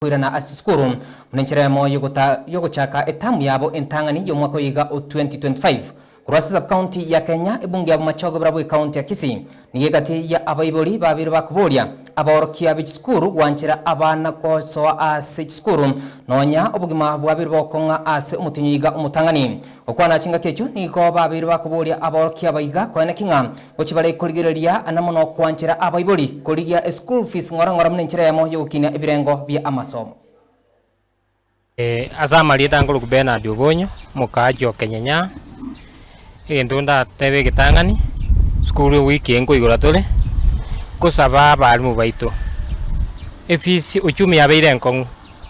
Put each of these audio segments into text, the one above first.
koirana ase esukuru buna enchera eyemo y'ogochaka etamu yabo entang'ani y'omwaka oyoiga o 2025. Korwa ase Sub-county ya Kenya, ebunge ya Bomachoge bora bwe county ya Kisii nigo egati ya abaibori babere ba koboria abaorokia be chisukuru gwanchera abana gosoa ase chisukuru nonya obogima bwabere bogokong'a ase omotenyo oyoiga omotang'ani. Okwana chingaki echio nigo babeire bakoboria aborokia aba iga, Konya naki ng'a gochia bare korigereria na mono kwanchera abaibori korigia eschool fees ng'ora ng'ora buna enchera eyemo y'ogokinia ebirengo bia amasomo? Ase amarieta aa nkoroku Bernard Obonyo, omokaachi o Kenyenya. Egento ndatebe egetang'ani, sukuru eye wiki eye nkoigora tore, nkosaba abaalimu baito efees, ochumi yabeire enkong'u.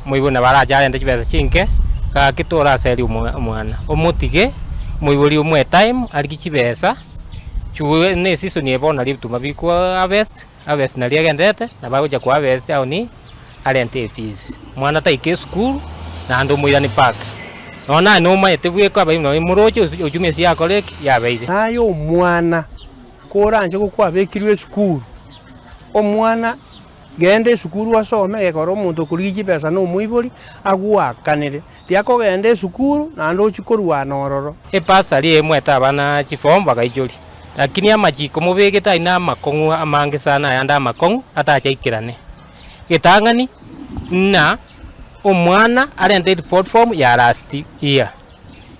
Omoibori nabo arache arente chibesa chinke, gaki toraseria omwana, omotige, omoibori omoe time arigie chibesa chigure ne season eye bono nario ebituma biri ko harvest, harvest nario egenderete nabo agocha ko harvest aoni arente efees, omwana taike esukuru naende omoirani park. Nonya naye nomaete bweka abaibori nabo moroche osi ochumia ase yakore ki? yabeire. Aye omwana koranche gokwa abekirwe esukuru, omwana Genda esukuru osome, egekora omonto okorigia chibesa na omoibori agwakanere. Tiakogenda esukuru, naende ochie korwana ororo. Epasari eemwete abana chifomu bagaichoria, Lakini amachiko mobegete ayio namakong'u amange sana ayande amakong'u atachaikerane. Getang'ani ng'a omwana arente report form ya last year.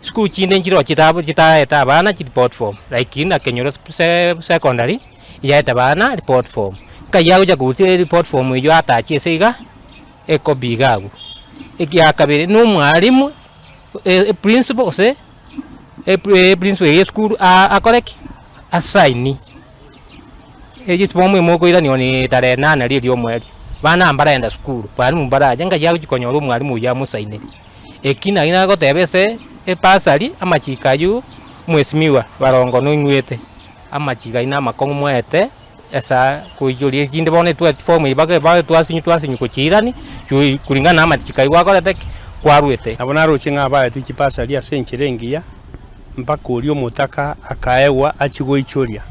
Sukuru chinde nchirochete abo chitaete abana chireport form like ng'a Kenyoro secondary. Yaete baana report form. Nkaiyo agochia kogutia report form eyio atachi ase iga ekobi iga agwo. Ekia kabere na omwalimu e principal gose e principal eye esukuru akore ki? A sign. Eye form eye mokoiraniwa ne tarehe enana ria eria omweri. Baana aba mbaragenda sukuru, mwalimu mbarache, nkaiyo agochia konyora omwalimu oyio amosainere. Eki naki nagoteba ase e bursary amachiko ayio mwesimiwa barongo noigwete. Amachiiko aino amakong'u mwaete ase koichoria, erinde bono etware chifomu ebi baka ebae twasinywa twasinywa gochiirani chui kulingana na amachiiko ayio gwakorete ki? Kwaruete. Nabo naroche ng'a abaetwe chibasari ase enchera engiya, mpaka oria omotaka akaegwa achie goichoria,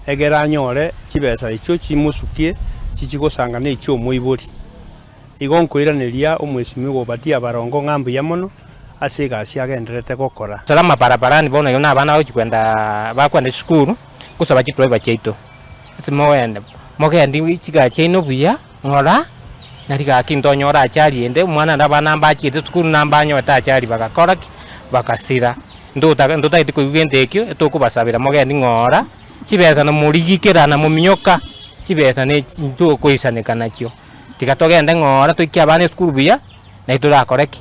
egere anyore chibesa echio chimosukie chichie gosangana echi'omoibori. Igo nkoiraneria omwesimwa Obadia Barongo ng'a mbuya mono, ase egasi agendererete gokora. Tara amabarabarani bono igo na abana bagochia kwenda bakwenda chisukuru gosaba chidriver chiaito ase mogende mogendie chigari chiaino buya ng'ora na rigaki ntonyore achari ende omwana ande abana mbachiete sukuru na mbanyogete achari bagakora ki? Bagasira ntotaka ntotagete koigwa gento ekio tokobasabera mogendi ng'ora chibesa na morigikera na mominyoka chibesa na echi tokoisaneka nachio tiga togende ng'ora toikie abana esukuru buya nai torakore ki?